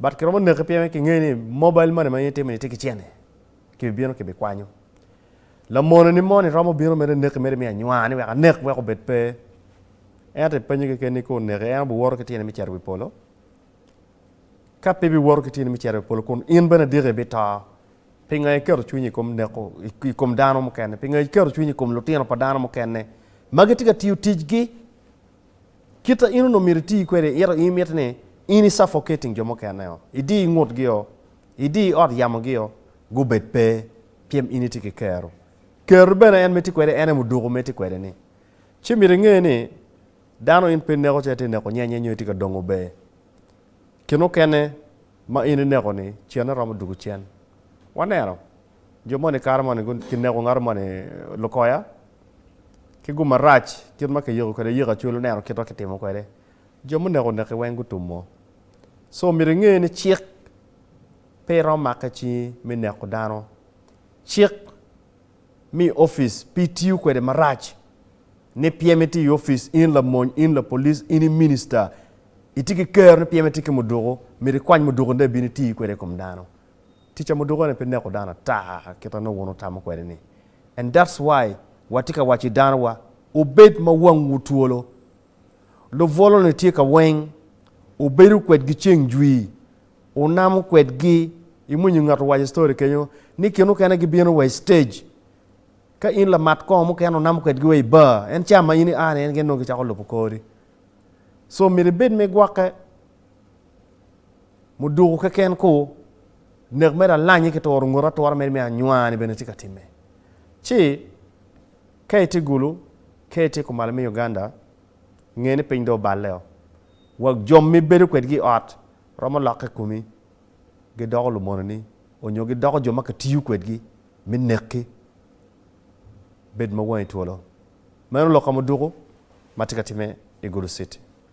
But kiromo neke pien kingeyo ni mobile money ma in itimo ni tye ki cene, kibi bino kibi kwanyo. Lamono ni moni romo bino mere neki mere mi anywa ni wek anek wek obed pe. Ento ipenyo keken ni ka oneke en obi woto ki tyene mi cito wi polo? Ka pe bi woto ki tyene mi cito wi polo kun in bene adiki ibi to, pinga iketo cwinyi ikom neko ikom dano mukene? Pinga iketo cwinyi ikom lutino pa dano mukene ma gitye ka tiyo ticgi Kite in onongo myero iti kwede, ito in mitte ni in i suffocating jo mukene-o, idi i ngutgi-o, idi i ot yamogi-o, gubed pe, pien in itye ki kero. Kero bene en ma itye kwede en aye muduku ma itye kwede-ni. Ci myero inge ni, dano in pe ineko ci itye ka neko nyenye nyo itye ka dongo ber. Kin mukene ma in ineko-ni, cene romo duku cen. Waneno. Jo moni i kare moni kineko ngato moni lukoya ki gum marac kit ma kiyiko kwede yiko acwel oneno kit ma kitimo kwede jo muneko oneki weng gutumo so myero inge ni cik pe romo make cingi me neko dano cik mi opic pe itiyo kwede marac ni pyem itye i opic in lamony in lapolic in i minista itye ki kero ni pyem itye ki muduku myero ikwany muduku ni dong ibino iti kwede i kom dano Tic ca muduka ni pe neko dano ata kit ma nongo wun wutamo kwede ni and that's why watye ka waco i dano wa wubed ma wangwu twolo. Lubwolo ni tye ka weng, wubedo kwedgi ceng jwi, wunamo kwedgi, imwinyo ngat owaco story kenyo ni kin mukene gibino wa i stage ka in lamat kongo mukene wunamo kwedgi wa i bar en ca ma in ia ni en gin nongo gicako lubo kori so myero ibed me gwoke. Muduku keken ku, nek me lalanyi ki turo ngoti atura meno me anywani bene tye ka timme. Ci, ka itye Gulu, ka itye kumalo me Uganda, nge ni piny dong oballeo. Wa jo ma ibedo kwedgi i ot romo lokke komi, gidoko lumononi, onyo gidoko jo ma kitiyo kwedgi me nekki. Bed ma wangi twolo. Meno lok ka muduku ma tye ka timme i Gulu city.